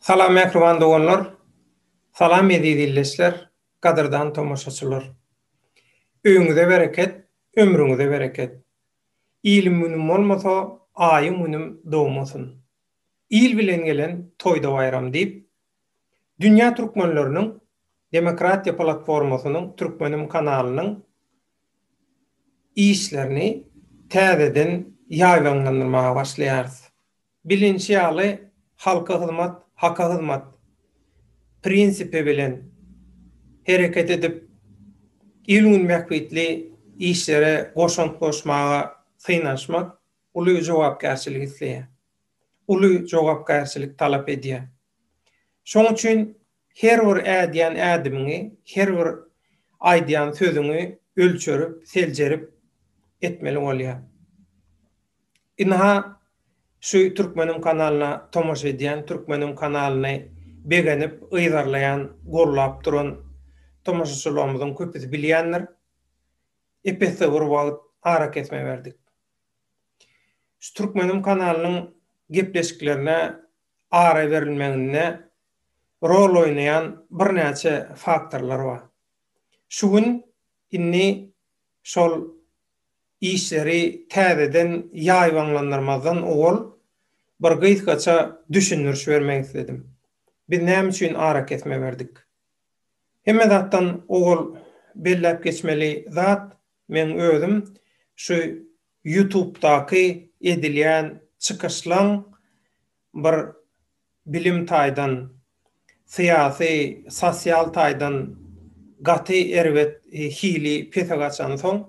Salam mähriban doganlar! Salam eziz illeçler, gadyrdan tomaşaçylar! Öýüňize bereket, ömrüňize bereket! Ilim-günüm bolmasa, aýym-günüm dogmasyn. Il bilen gelen toýda-baýram diýip, dünýä türkmenleriniň Demokratiýa platformasynyň Türkmenim kanalynyň işlerini täzeden ýaýbaňlandyrmaga başlaýarys. Bilinşi ýaly, halka hyzmat, haka hyzmat prinsipi bilen hereket edip, il-gün bähbitli işlere goşant goşmaga synanyşmak uly jogapkärçilik isleýär, uly jogapkärçilik talap edýär. Şoň üçin her bir ädýän ädimiňi, her bir aýdýan sözüňi ölçerip, seljerip etmeli bolýar. Ynha, şu Türkmeniň kanalyna tomaşa edýän, Türkmeniň kanalyny begenip, yzarlaýan, gollap duran tomaşaçylarymyzyň köpüsi bilýändir. Ep-esli bir wagt arakesme berdik. Şu Türkmeniň kanalynyň gepleşiklerine ara berilmeginde rol oýnaýan birnäçe faktorlar bar. Şu gün, indi şol Işleri täzeden ýaýbaňlandyrmazdan owal bir gysgaça düşündiriş bermek isledim. Biz näme üçin arakesme berdik? Hemme zatdan owal belläp geçmeli zat, meň özüm şu ýutubdaky edilýän çykyşlaň bir bilim taýdan, syýasy, sosial taýdan gaty erbet hili pese gaçansoň,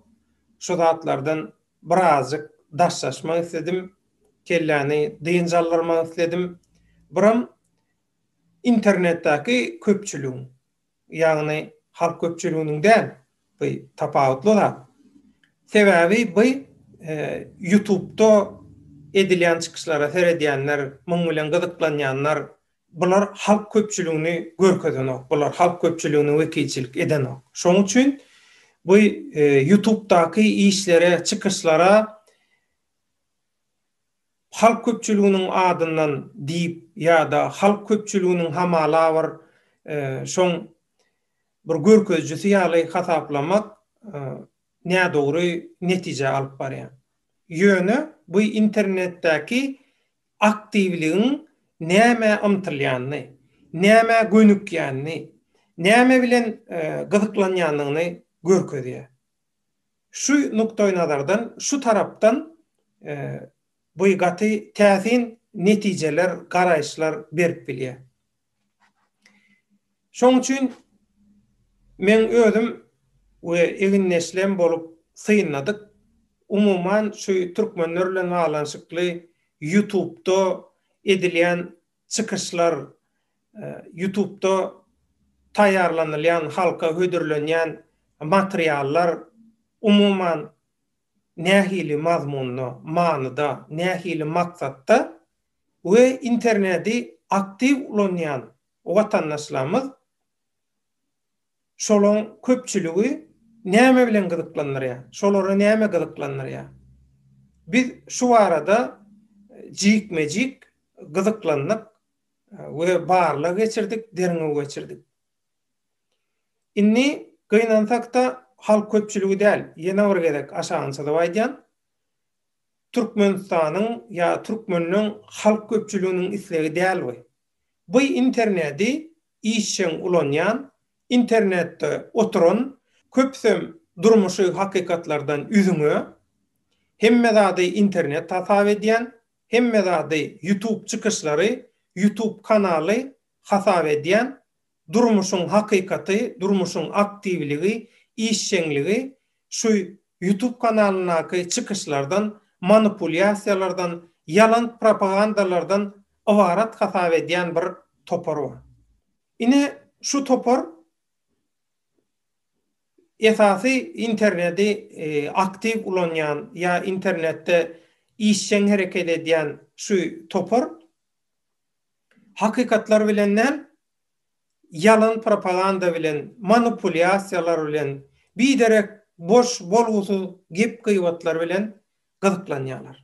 şu zatlardan birazjyk daşlaşmak isledim, kelläni dynç aldyrmak isledim. Buram internetdäki köpçüligiň. ýagny halk köpçüliginiň däl, by tapawutly zat. Sebäbi by ýutubda edilýän çykyşlara seredýänler, muň bilen gyzyklanýanlar, bular halk köpçüligini görkezenok, bular halk köpçüligine wekilçilik edenok. Şoň üçin bu ýutubdaky işlere, çykyşlara halk köpçüliginiň adyndan diýip ýa-da halk köpçüliginiň hamala bir şoň bir görkezijisi ýaly hasaplamak nädogry netijä alyp barýar. Ýöne bu internetdäki aktiwligiň nämä ymtylýanyny, nämä gönükýänini, näme bilen gyzyklanýandygyny görkezýär. Şu nukdaýnazardan, şu tarapdan bu gaty täsin netijeler, garaýyşlar berip bilýär. Şoň üçin men özüm we egindeşlem bolup synladyk. Umuman şu türkmenler bilen baglanyşykly Ýutubda edilýän çykyşlar, ýutubda taýýarlanylýan, halka hödürlenýän materiallar umuman nähili mazmunda, manyda, nähili maksatda we internedi aktiw ulanýan watandaşlarymyz Şolaň köpçüligi näme bilen gyzyklandyrýar? Şolary näme gyzyklandyrýar? Biz şu barada jikme-jik gyzyklandyk we barlag geçirdik, derňew geçirdik. Indi gynansak-da, halk köpçüligi däl, ýene bir gezek aşagyny çyzyp aýdýan, Türkmenistanyň ýa türkmenleň halk köpçüliginiň islegi däl bu. Bu internedi işjeň ulanýan, internetde oturan, köpüsem durmuşy hakykatlardan üzňe, hemme zady internet hasap edýän, hemme zady ýutub çykyşlary, ýutub kanaly hasap edýän, durmuşyň hakykaty, durmuşyň aktiwligi, işjeňligi Şu YouTube kanalyndaky çykyşlardan, manipulýasiýalardan, ýalan propagandalardan ybarat hasap edýän bir topar bar. Ine, şu topar esasy interneti aktiw ulanýan ýa internetde işjeň hereket edýän şu topar hakykatlar bilen däl, ýalan propaganda bilen, manupulýasiýalar bilen, biderek boş, bolgusyz gep-gybatlar bilen gyzyklanýarlar.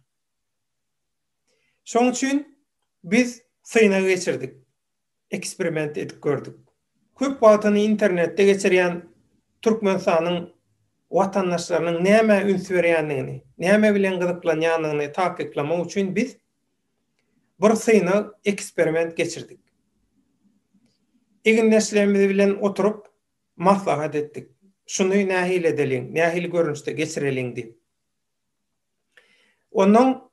Şoň üçin biz synag geçirdik, eksperiment edip gördük. Köp wagtyny internetde geçirýän Türkmenistanyň watandaşlarynyň nämä üns berýändigini, näme bilen gyzyklanýandygyny takyklamak üçin biz bir synag eksperiment geçirdik. Egindeşlerimiz bilen oturyp maslahat etdik. Şuny nähili edeliň, nähili görnüşde geçireliň diýip. Ondan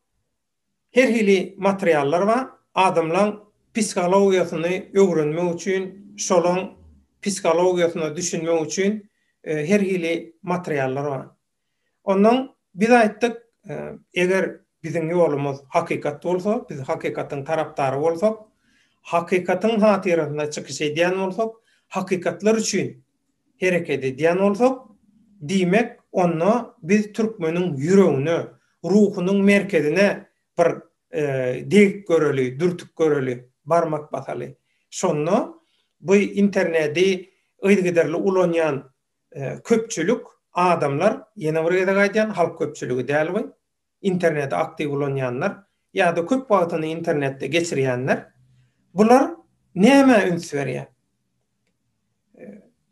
her hili materiallar bar. Adamlaň psihologiýasyny öwrenmek üçin, şolaň psihologiýasyna düşünmek üçin e, her hili materiallar bar. Ondan biz aýtdyk, eger biziň ýolumyz hakykat bolsa, biz hakykatyň tarapdary bolsak, hakykatyň hatyrasynda çykyş edýän bolsak, hakykatlar üçin hereket edýän bolsak, diýmek, onda biz türkmeniň ýüregine, ruhunyň merkezine bir degip göreli, dürtüp göreli, barmak basaly. Şonda bu interneti yzygiderli ulanýan köpçülik adamlar, ýene bir gezek aýdýan, halk köpçüligi däl bu, interneti aktiw ulanýanlar ýa-da köp wagtyny internetde geçirýänler, bular nämä üns berýär?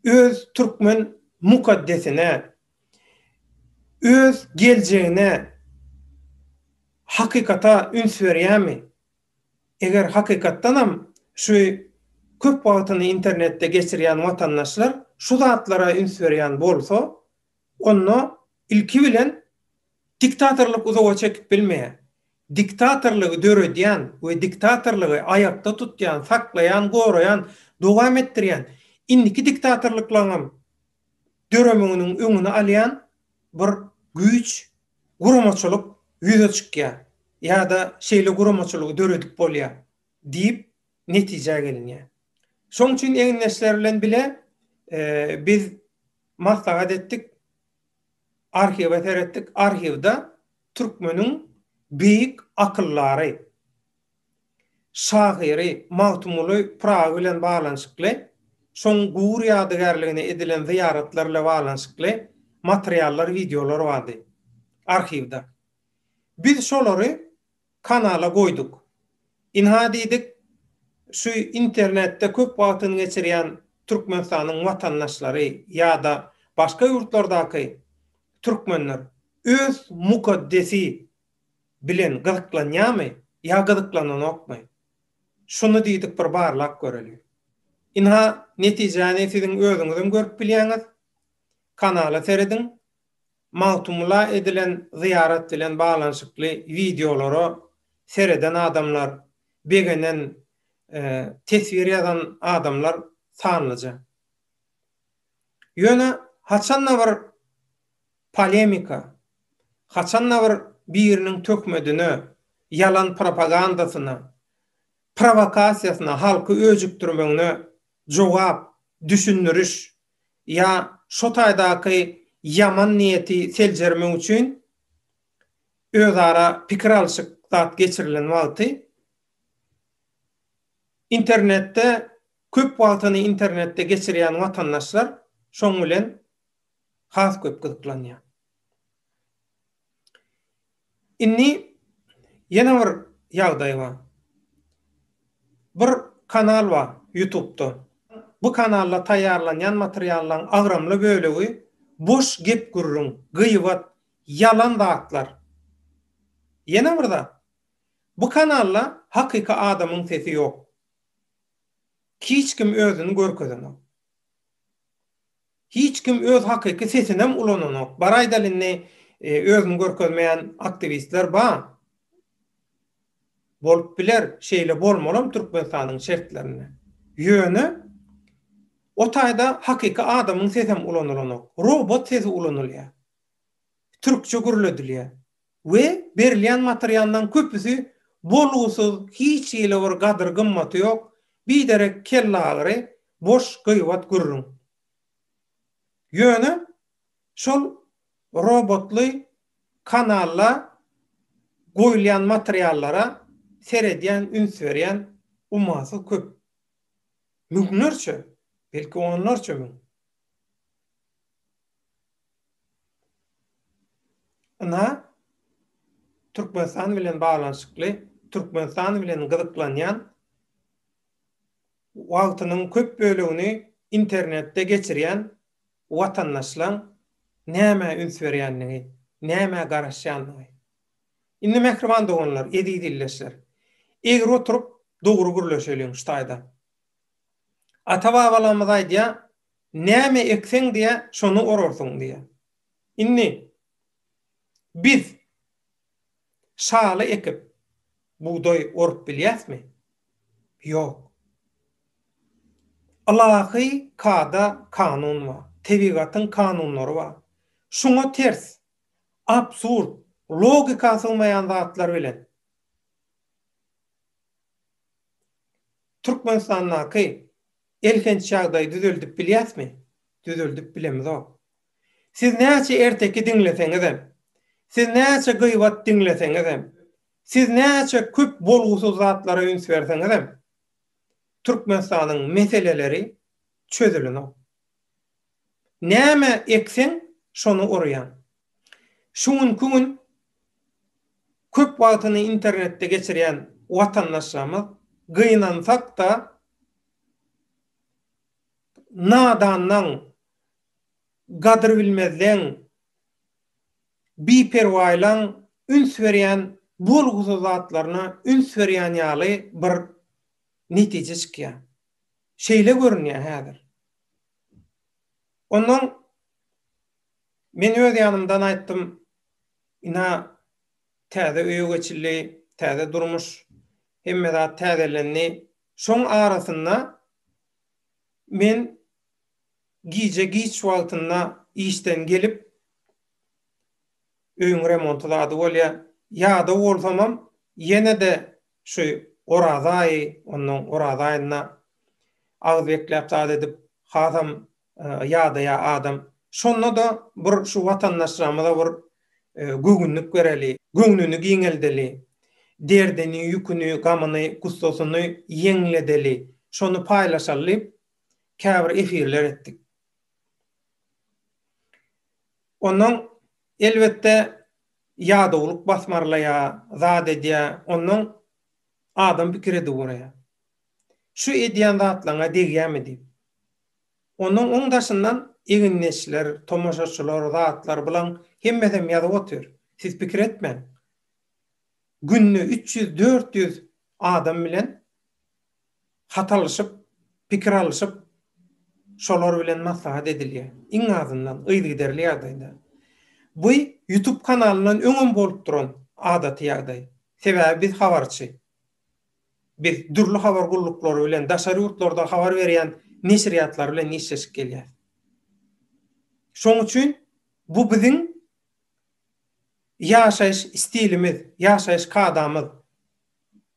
Öz türkmen mukaddesine, öz geljegine hakykata üns berýärmi? Eger hakykatdanam şu köp wagtyny internetde geçirýän watandaşlar şu zatlara üns berýän bolsa, onda ilki bilen diktatorlyk uzaga çekip bilmeýär. Diktatorlygy döredýän we diktatorlygy aýakda tutýan, saklaýan, goraýan, dowam etdirýän, indiki diktatorlyklaryňam döremiginiň öňüni alýan bir güýç, guramaçylyk ýüze çykýar ýa-da şeýle guramaçylygy döredip bolýar diýip netijä gelinýär. Şoň üçin egindeşler bilen bile biz maslahat etdik, arhiwe seretdik, arhiwde türkmeniň beýik akyldary, şahyry Magtymguly Pyragy bilen baglanyşykly, şoň gugur ýadygärligine edilen zyýaratlar bile baglanyşykly materiallar, wideolar bardy arhiwda. Biz şolary kanala goýduk. Ynha diýdik, şu internetde köp wagtyny geçirýän Türkmenistanyň watandaşlary ýa-da başga ýurtlardaky türkmenler öz mukaddesi bilen gyzyklanýarmy ýa gyzyklananokmy? Şuny diýdik bir barlap göreli. Ynha, netijäni siziň özüňizem görüp bilýäňiz. Kanala serediň. Magtymgula edilen zyýarat bilen baglanyşykly wideolara sereden adamlar, begenen, teswir ýazan adamlar sanlyja. Ýöne haçan-da bir Polemika, haçanda bir biriniň töhmedine, ýalan propagandasyna, prowokasiýasyna halky öjükdirmegine jogap, düşündiriş ýa şo taýdaky ýaman niýeti seljermek üçin özara pikir alşyk zat geçirilen wagty internetde köp wagtyny internetde geçirýän watandaşlar şoň bilen has köp gyzyklanýar. Indi ýene bir ýagdaý bar. Bir kanal bar ýutubda. Bu kanalda taýýarlanýan materiallaryň agramly bölegi boş gep-gürrüň, gyýbat, ýalan zatlar. Ýene bir zat, bu kanalda hakyky adamyň sesi ýok. Hiç kim özüni görkezenok. Hiç kim öz hakyky sesinem ulananok. Bar aýdaly indi özüni görkezmeýän aktiwistler ba. Bolup biler, şeýle bolmalam Türkmenistanyň şertlerinde. Ýöne o taýda hakyky adamyň sesem ulanylanok. Robot sesi ulanylýar. Türkçe gürledilýär. we berilýän materiallaryň köpüsi bolgusyz, hiç hili bir gadyr-gymmaty ýok, biderek kellagyry, boş gybat gürrüň. Ýöne şol robotly kanalla goýulýan materiallara seredýän, üns berýän ummasyz köp. Müňlerçe, belki onlarça müň. Ynha, Türkmenistan bilen baglanyşykly, Türkmenistan bilen gyzyklanýan, wagtynyň köp bölegini internetde geçirýän watandaşlaň nämä üns berýänligi, nämä garaşýanlygy. Indi mähriban doganlar, eziz ildeşler, egri oturyp, dogry gürleşeliň şu taýdan. Ata-babalarymyz aýdýar, Näme ekseň diýä, şony orarsyň diýä. Indi biz şaly ekip bugdaý orup bilýäsmi? Ýok. Ylahy kada, kanun bar. Tebigatyň kanunlary bar. Şuňa ters, absurd, logika sygmaýan zatlar bilen Türkmenistandaky Elhenç ýagdaýy düzeldip bilýäsmi? Düzeldip bilemizok. Siz näçe erteki diňleseňizem, siz näçe gybat diňleseňizem, siz näçe köp bolgusyz zatlara üns berseňizem, Türkmenistanyň meseleleri çözülenok. Näme ekseň, şony orýaň. Şu günki gün köp wagtyny internetde geçirýän watandaşlarymyz gynansak-da nadanlaň, gadyrbilmezleň, biperwaýlaň üns berýän bolgusyz zatlaryna üns berýän ýaly bir netije çykýar. Şeýle görünýär häzir. Ondan men öz ýanymdan aýtdym, ina, täze öýe geçildi, täze durmuş, hemme zat täzelendi. Şoň arasynda men gije giç wagtynda işden gelip, öýüň remonty zady bolýar, ýadaw bolsamam, ýene-de Şu Oraz aýy, onnoň Oraz aýynda agyz bekläp zat edip hasam ýadaýa adam. Şonda-da bir şu watandaşlarymyza bir göwünlik bereli, göwnüni giňeldeli, derdini, ýüküni, gamyny, gussasyny ýeňledeli, şony paýlaşaly diýip käbir efirler etdik. Onnoň Elbetde, ýadawlyk basmarlaýar, zat edýär, onnoň adam pikir edip guraýar. Şu edýän zatlaryňa degýärmi diýip. Onnoň oň daşyndan egindeşler, tomaşaçylar, zatlar, bulaň hemmesem ýazyp otyr. Siz pikir etmäň. Günde üç ýüz, dört ýüz adam bilen Hat alyşyp, pikir alyşyp, şolar bilen maslahat edilýär. Iň azyndan, yzygiderli ýagdaýda. Bu Ýutup kanalyndan öňem bolup duran adaty ýagdaý. Sebäbi biz habarçy. Biz dürli habar gulluklary bilen, daşary ýurtlarda habar berýän neşirýatlar bilen işleşip gelýäris. Şoň üçin bu biziň ýaşaýyş stilimiz, ýaşaýyş kadamyz.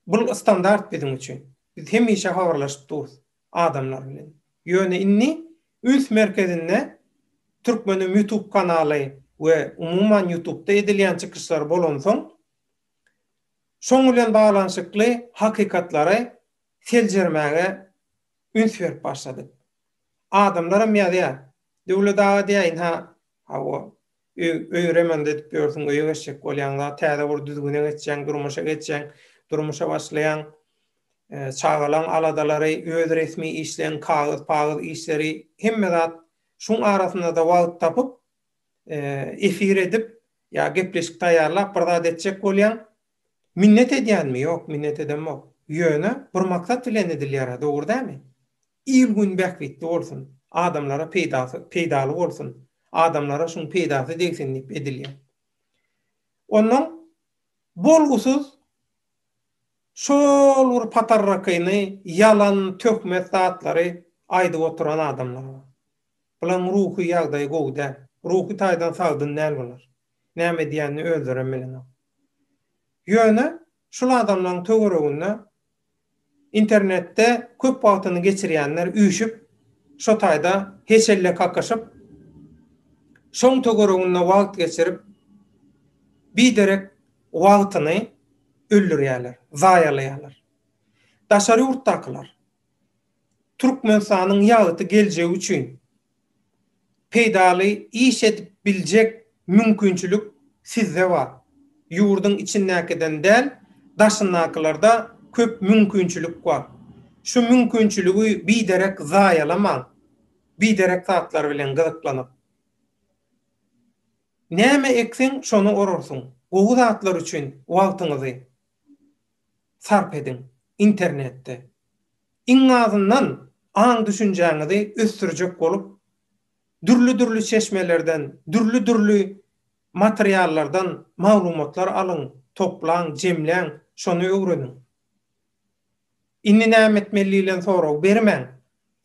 Bul standart biziň üçin. Biz hemişe habarlaşyp durus adamlar bilen. Ýöne indi üns merkezinde Türkmenim YouTube kanaly we umuman YouTubda edilýän çykyşlar bolansoň şoň bilen baglanyşykly hakykatlary seljermäge üns berip başladyk. Adamlaram ýazýar. Döwlet aga diýýär, ynha, hawa, Öý remont edip ýörsüň, öýe geçjek bolýaň, zat täze bir düzgüne geçýäň, durmuşa geçýäň, durmuşa başlaýaň. Çagalaň aladalary, öz resmi işleň, kagyz-pagyz işleri, hemme zat şuň arasynda-da wagt tapyp, efir edip ýa gepleşik taýýarlap bir zat etjek bolýaň. Minnet edýänmi? Ýok, minnet edemok. Ýöne bir maksat bilen edilýär-ä, dogry dämi? Il-gün bähbitli bolsun, adamlara peýdasy, peýdaly bolsun, adamlara şuň peýdasy degsin diýip edilýär. Onnoň bolgusyz şol bir patarrakyny, ýalan, töhmet zatlary aýdyp oturan adamlar bar. Bularyň ruhy ýagdaýy gowy däl. Ruhy taýdan sagdyn däl bular. Näme edýänini özlerem bilenok. Ýöne Şul adamlaryň töwereginde internetde köp wagtyny geçirýänler üýşüp, şo taýda heçelle kakyşyp, şoň töwereginde wagt geçirip, biderek wagtyny öldürýärler, zaýalaýarlar. Daşary ýurtdakylar, Türkmenistanyň ýagty geljegi üçin peýdaly iş edip biljek mümkinçilik sizde bar. Ýurduň içindäkiden däl, daşyndakylarda köp mümkinçilik bar. Şu mümkinçiligi biderek zaýalamaň, biderek zatlar bilen gyzyklanyp. Näme ekseň, şony orarsyň. Gowy zatlar üçin wagtyňyzy, sarp ediň. Internetde, iň azyndan, aň-düşünjäňizi ösdürjek bolup, dürli-dürli çeşmelerden, dürli-dürli materiallardan maglumatlar alyň, toplaň, jemläň, şony öwreniň. Indi näme etmeli diýlen soragy bermäň.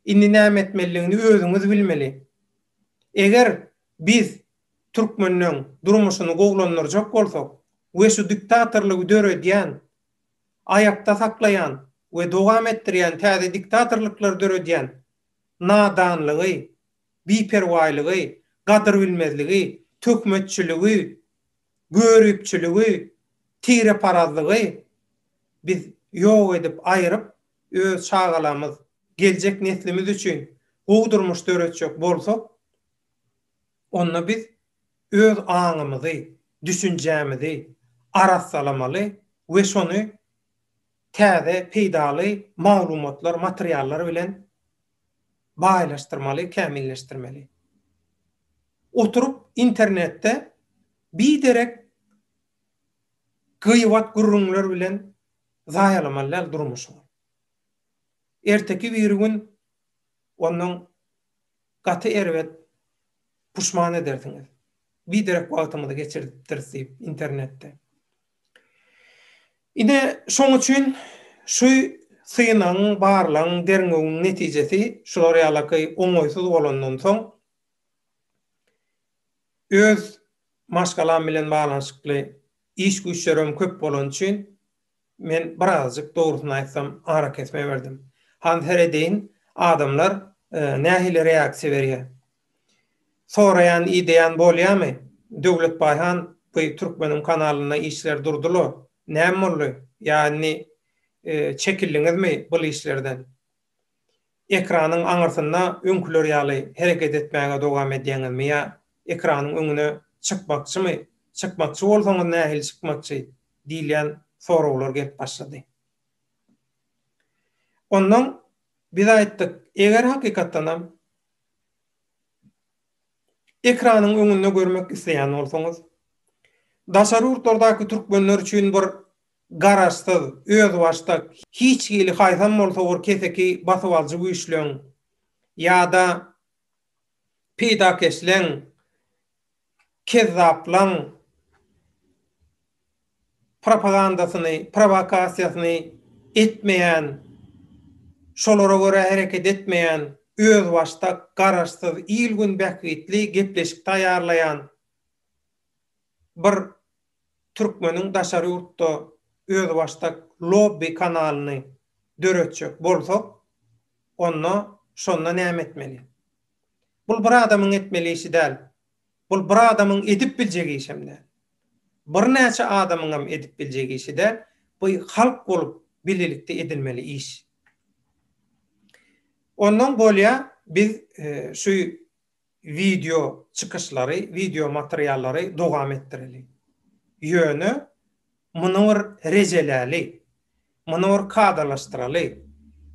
Indi näme etmelidigini özüňiz bilmeli. Eger biz Türkmenleň durmuşyny gowlandyrjak bolsak we şu diktatorlygy döredýän, aýakda saklaýan we dowam etdirýän täze diktatorlyklary döredýän nadanlygy, biperwaýlygy, gadyrbilmezligi, töhmetçiligi, göripçiligi, tireparazlygy biz ýok edip aýyryp öz çagalamyz, geljek neslimiz üçin gowy durmuş döretjek bolsak, onda biz öz aňymyzy, düşünjämizi arassalamaly we şony täze peýdaly maglumatlar, materiallar bilen baýlaşdyrmaly, kämilleşdirmeli. Oturyp internetde biderek gyýbat gürrüňler bilen zaýalamaly däl durmuşy. Erteki biri gün ondan Gaty erbet puşman edersiňiz. Biderek wagtymyzy geçirdipdiris diýip internetde. Ine şoň üçin şu synagyň, barlagyň, derňewiň netijesi şular ýalaky oňaýsyz bolandan soň öz maşgalam bilen baglanyşykly iş-güýçlerim köp bolany üçin Men birazjyk, dogrusyny aýtsam, arakesme berdim. Hany seredeýin, adamlar nähili reaksiýa berýär. Soraýan, ideýän bolýamy? Döwletbaý han bu türkmeniň kanalynda işler durdylo, näme boldy? Ýa indi çekildiňizmi bul işlerden? Ekranyň aňyrsynda öňküler ýaly hereket etmäge dowam edýäňizmi ýa ekranyň öňüne çykmakçymy, çykmakçy bolsaňyz nähili çykmakçy diýilýän soraglar gelip başlady. Ondan biz aýtdyk, eger hakykatdanam ekranyň öňünde görmek isleýän bolsaňyz, daşary ýurtlardaky türkmenler üçin bir Garaşsyz, özbaşdak, hiç hili haýsam bolsa bir keseki basybalyjy güýçleň ýa-da peýdakeşleň, kezzaplaň propagandasyny, prowokasiýasyny etmeýän, şolara görä hereket etmeýän, özbaşdak, garaşsyz, il-gün bähbitli gepleşik taýýarlaýan bir türkmeniň daşary ýurtda özbaşdak lobby kanalyny döretjek bolsak, onda şonda näme etmeli? Bul bir adamyň etmeli işi däl. Bul bir adamyň edip biljek işem däl. Birnäçe adamyňam edip biljek işi däl. Bu halk bolup bilelikde edilmeli iş. Ondan bolýa biz şu wideo çykyşlary, wideo materiallary dowam etdireli. Ýöne muny bir rejeläli, muny bir kadalaşdyraly,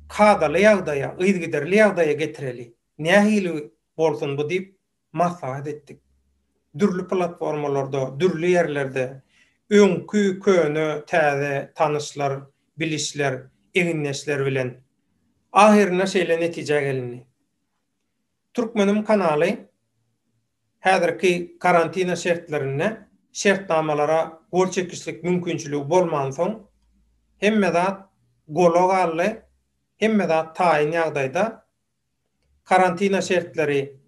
kadaly ýagdaýa, yzgiderli ýagdaýa getireli, nähili bolsun bu diýip maslahat etdik. Dürli platformalarda, dürli ýerlerde öňki, köne, täze tanyşlar, bilişler, egindeşler bilen ahyrynda şeýle netijä gelindi. Türkmenim kanaly häzirki karantina şertlerinde şertnamalara gol çekişlik mümkinçiligi bolmansoň hemme zat gola galdy, hemme zat taýyn ýagdaýda. Karantina şertleri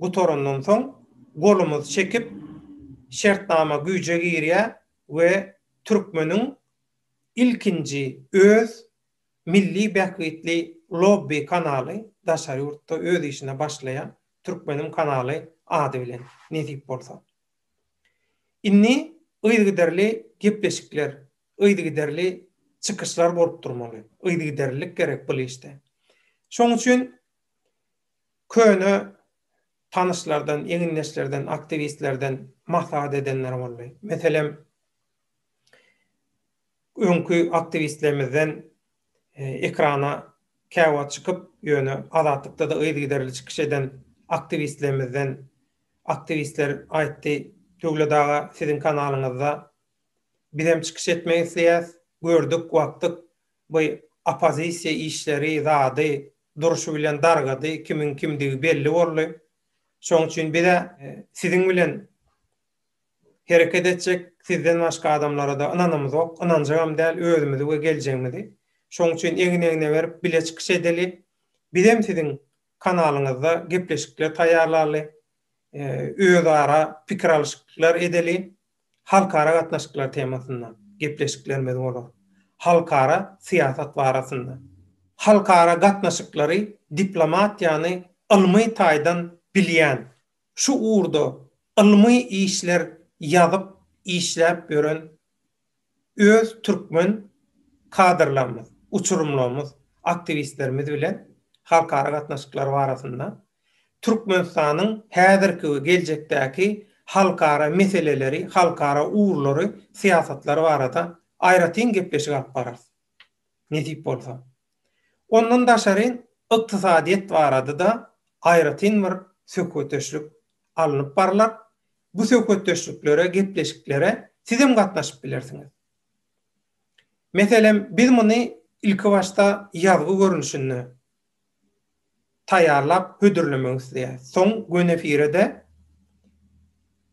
gutarandan soň golumyz çekip şertnama güýje girýär we Türkmeniň ilkinji öz Milli bähbitli lobby kanaly daşary ýurtda öz işine başlaýar, Türkmenim kanaly ady bilen, nesip bolsa. Indi yzygiderli gepleşikler, yzygiderli çykyşlar bolup durmaly, yzygiderlilik gerek bul işde. Şoň üçin köne tanyşlardan, egindeşlerden, aktiwistlerden maslahat edenler boldy. Meselem, Öňki aktiwistlerimizden ekrana käwagt çykyp, ýöne Azatlykda-da yzygiderli çykyş eden aktiwistlerimizden aktiwistler aýtdy, Döwlet aga, siziň kanalyňyzda bizem çykyş etmek isleýäs, gördük, uagtdyk, bu oppozisiýa işleri, zady, durşy bilen dargady, kimiň kimdigi belli boldy. Şonuň üçin biz-ä siziň bilen Hereket etjek sizden başga adamlara-da ynanymyzok, ynanjagam däl özümizi we geljegimizi. Şoň üçin egin-egne berip bile çykyş edeli. Bizem siziň kanalyňyzda gepleşikler taýýarlaly, özara pikir alyşyklar edeli. Halkara gatnaşyklar temasynda gepleşiklerimiz bolar. Halkara syýasat barasynda. Halkara gatnaşyklary, diplomatiýany ylmy taýdan bilýän, Şu ugurda ylmy işler ýazyp işläp ýören öz türkmen kadrlarymyz, uçurymlarymyz, aktiwistlerimiz bilen halkara gatnaşyklary barasynda, Türkmenistanyň häzirki we geljekdäki halkara meseleleri, halkara ugurlary, syýasatlary barada aýratyn gepleşik alyp bararys. nesip bolsa. Ondan daşary ykdysadyýet barada-da aýratyn bir söhbetdeşlik alnyp barlar. Bu söhbetdeşliklere, gepleşiklere sizem gatnaşyp bilersiňiz. Meselem, biz muny ilki başda ýazgy görnüşinde taýýarlap hödürlemek isleýäris. Soň göni efire-de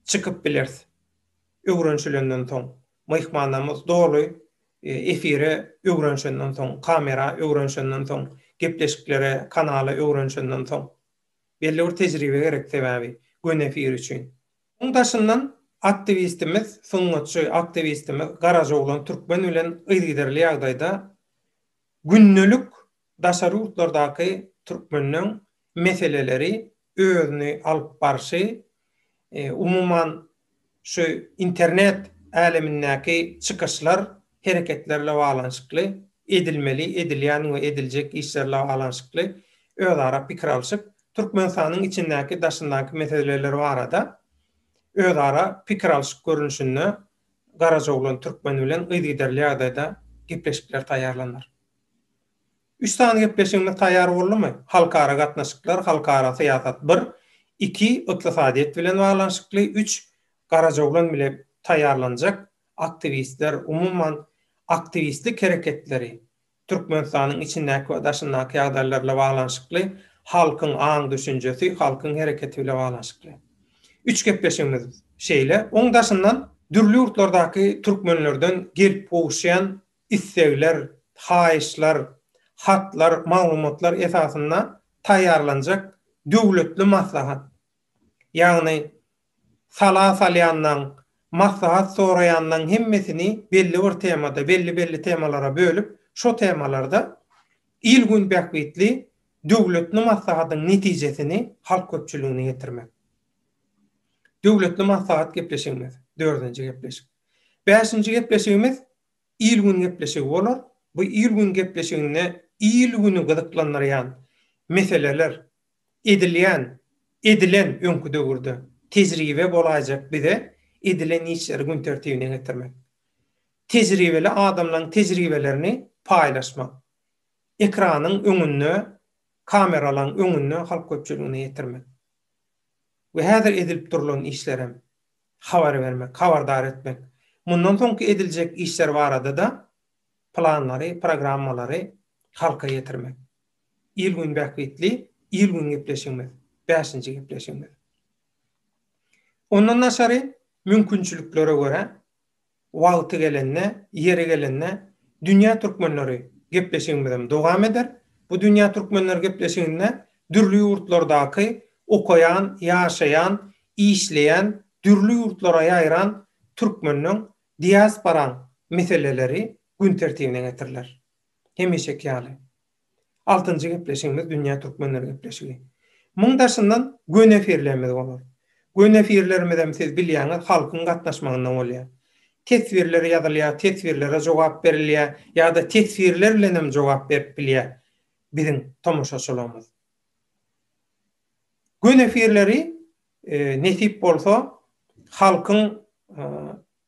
çykyp bileris, öwrenişilenden soň. Myhmanlarymyz doly efire öwrenişenden soň, kamera öwrenişenden soň, gepleşiklere, kanala öwrenişenden soň. Belli bir tejribe gerek sebäbi göni efir üçin. Muň daşyndan aktiwistimiz, sungatçy aktiwistimiz Garajoglan Türkmen bilen yzygiderli ýagdaýda gündelik Daşary ýurtlardaky türkmeniň meseleleri özüni alyp barşy, umuman şu internet älemindäki çykyşlar, hereketlerle baglanyşykly, edilmeli, edilýän we ediljek işlerle baglanyşykly özara pikir alşyp, Türkmenistanyň içindäki, daşyndaky meseleler barada özara pikir alşyk görnüşinde garajoglan türkmen bilen yzygiderli ýagdaýda gepleşikler taýýarlanar. Üç sany gepleşigimiz taýýar boldumy? Halkara gatnaşyklar, halkara syýasat bir, iki, ykdysadyýet bilen baglanyşykly, üç, Garajoglan bile taýýarlanjak aktiwistler, umuman, aktiwistlik hereketleri, Türkmenistanyň içindäki we daşyndaky ýagdaýlar bile baglanyşykly, halkyň aň-düşünjesi, halkyň hereketi bile baglanyşykly. Üç gepleşigimiz şeýle. Oň daşyndan dürli ýurtlardaky türkmenlerden gelip gowuşýan islegler, haýyşlar, hatlar, maglumatlar esasynda taýýarlanjak döwletli maslahat, ýagny sala salýanlaň, maslahat soraýanlaň hemmesini belli bir temada, belli-belli temalara bölüp, şo temalarda il-gün bähbitli döwletli maslahatyň netijesini halk köpçüligine ýetirmek. Döwletli maslahat gepleşigimiz, dördünji gepleşik. Bäşinji gepleşigimiz, il-gün gepleşigi bolar. Bu il-gün gepleşiginde il-güni gyzyklandyrýan meseleler, edilýän, edilen öňki döwürde tejribe bolaýjak bize edilen işleri gün tertibine getirmek, tejribeli adamlaryň tejribelerini paýlaşmak, ekranyň öňünde, kameralaryň öňünde halk köpçüligine ýetirmek we häzir edilip durlan işlerem habar bermek, habardar etmek, mundan soňky ediljek işler barada-da planlary, programmalary halka ýetirmek. Il-gün bähbitli, il-gün gepleşigimiz, bäşinji gepleşigimiz. Ondan daşary, mümkinçiliklere görä, Wagty gelende, ýeri gelende Dünýä türkmenleri gepleşigimizem dowam eder. Bu Dünýä türkmenleri gepleşiginde dürli ýurtlardaky okaýan, ýaşaýan, işleýän, dürli ýurtlara ýaýran türkmeniň, diasporaň meseleleri gün tertibine getiriler. Hemişeki ýaly. Altynjy gepleşigimiz Dünýä Türkmenleri gepleşigi. Muň daşyndan Gönefirlerimiz bolar. Gönefirlerimizem siz bilýäňiz halkyň gatnaşmagynda bolýa. Teswirler ýazylýa, teswirlere jogap berilýä ýa-da teswirler bilenem jogap berip bilýä biziň tomaşaçylarymyz. Gönefirleri nesip bolsa halkyň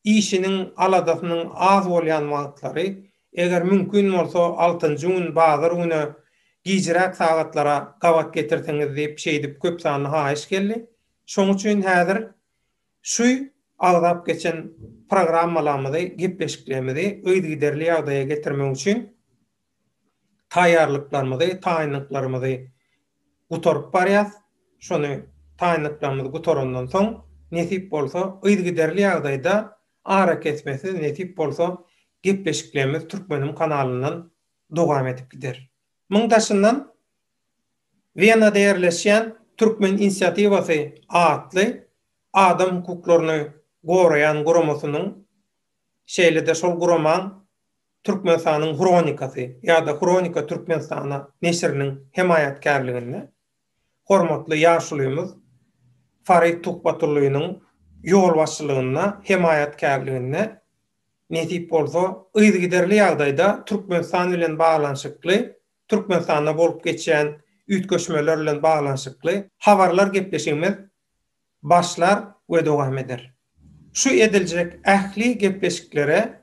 Işiniň aladasynyň az bolýan wagtlary, eger mümkin bolsa altynjy gün bazar güne gijräk sagatlara gabat getirseňiz diýip şeýdip köp sanly haýyş geldi. Şoň üçin häzir şu agzap geçen programmalamyzy, gepleşiklerimizi yzygiderli ýagdaýa getirmek üçin, taýýarlyklarymyzy, taýynlyklarymyzy gutaryp barýas. Şony taýynlyklarymyz gutarandan soň, nesip bolsa, yzygiderli ýagdaýda, arakesmesiz, nesip bolsa, gepleşiklerimiz Türkmenim kanalyndan dowam edip gider. Muň daşyndan Wenada ýerleşýän Türkmen inisiatiwasy atly adam hukuklaryny goraýan guramasynyň, şeýle-de şol guramaň Türkmenistanyň hronikasy ýa-da Hronika Türkmenistana neşiriniň hemaýatkärliginde hormatly ýaşulymyz Farid Tuhbatullynyň ýolbaşçylygynda, hemaýatkärliginde, nesip bolsa, yzygiderli ýagdaýda Türkmenistan bilen baglanyşykly, Türkmenistanda bolup geçýän üýtgeşmeler bilen baglanyşykly habarlar gepleşigimiz başlar we dowam eder. Şu ediljek ähli gepleşiklere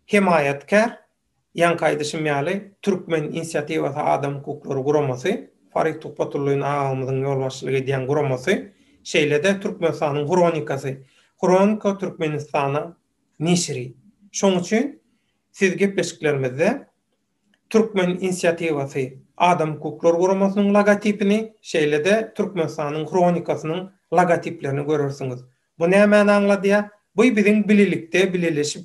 hemaýatkär, ýaňky aýdyşym ýaly, Türkmen inisiatiwasy adam hukuklary guramasy, Farid Tuhbatullin agagymyzyň ýolbaşçylyk edýän guramasy, şeýle-de Türkmenistanyň hronikasy, Hronika Türkmenistana neşiri. Şoň üçin siz gepleşiklerimizde, Türkmen inisiatiwasy Adam hukuklary guramasynyň logotipini, şeýle-de Türkmenistanyň Hronikasynyň logotiplerini görersiňiz. Bu nämäni aňladýar? Bu biziň bilelikde bileleşip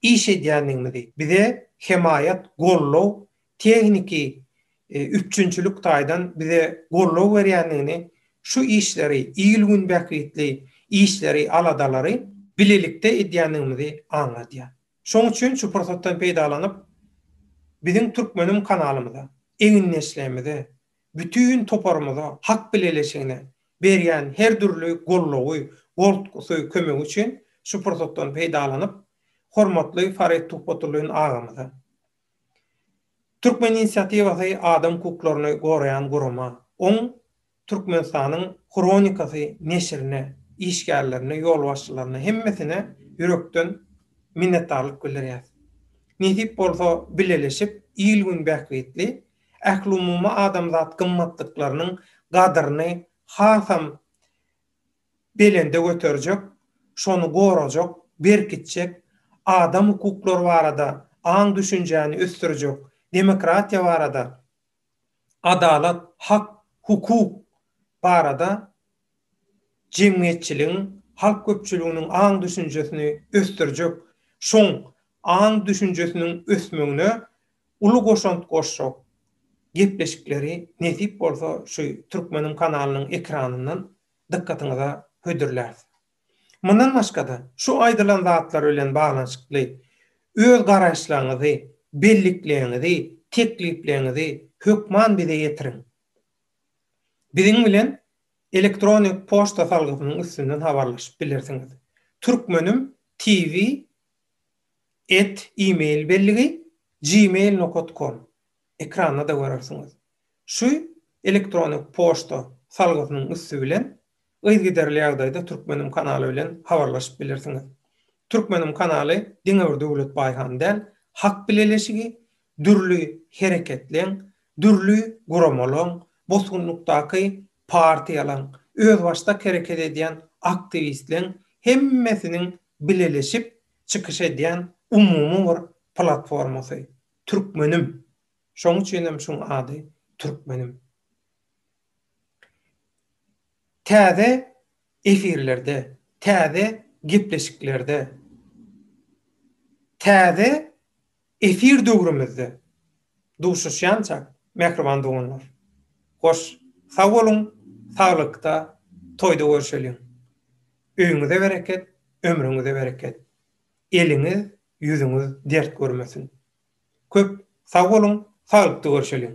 iş edýändigimizi, bize hemaýat, goldaw, tehniki üpjünçilik taýdan bize goldaw berýändigini, şu işleri, il-gün bähbitli işleri, aladalary bilelikde edýändigimizi aňladýar. Şoň üçin şu pursatdan peýdalanyp, biziň Türkmenim kanalymyza, egindeşlerimize, bütin toparymyza, Hak bileleşigine berýän her dürli goldawy, goltgusy, kömegi üçin şu pursatdan peýdalanyp, hormatly Farid Tuhbatullin agamyza, Türkmen inisiatiwasy adam hukuklaryny goraýan gurama, oň Türkmenistanyň Hronikasy neşirine, işgärlerine, ýolbaşçylaryna, hemmesine ýürekden minnetdarlyk bildirýäs. Nesip bolsa, bileleşip, il-gün bähbitli, ählumumy adamzat gymmatlyklarynyň gadyryny hasam belende göterjek, şony gorajak, berkitjek, adam hukuklary barada aň-düşünjäni ösdürjek, demokratiýa barada, adalat, hak, hukuk barada jemgyýetçiligiň, halk köpçüliginiň aň-düşünjesini ösdürjek, şoň aň-düşünjesiniň ösmegine uly goşant goşjak gepleşikleri nesip bolsa şu Türkmeniň kanalynyň ekranyndan dykgatyňyza hödürläris. Mundan başga-da, şu aýdylan zatlar bilen baglanyşykly öz garaýyşlaryňyzy, bellikleýiňizi, teklipleriňizi hökman bize ýetiriň. Biziň bilen elektronik poçta salgysynyň üstünden habarlaşyp bilersiňiz. Türkmenim TV at e-mail belligi gmail nokat kom Ekranda-da görersiňiz. Şu elektronik poçta salgysynyň üsti bilen Yzygiderli ýagdaýda Türkmenim kanaly bilen habarlaşyp bilirsiňiz. Türkmenim kanaly diňe bir Döwlet Baýhan däl, Hak bileleşigi, dürli hereketleň, dürli guramalaň, bosgunlykdaky partiýalaň, özbaşdak hereket edýän aktiwistleň hemmesiniň bileleşip çykyş edýän umumy bir platformasy. Türkmenim. Şoň üçinem şuň ady Türkmenim. Täze efirlerde, täze gepleşiklerde, täze efir döwrümizde duşuşýança, mähriban doganlar, hoş, sag boluň, saglykda, toýda görşeliň! Öýüňize bereket, ömrüňize bereket! Eliňiz, ýüzüňiz dert görmesin! Köp sag boluň, saglykda görşeliň!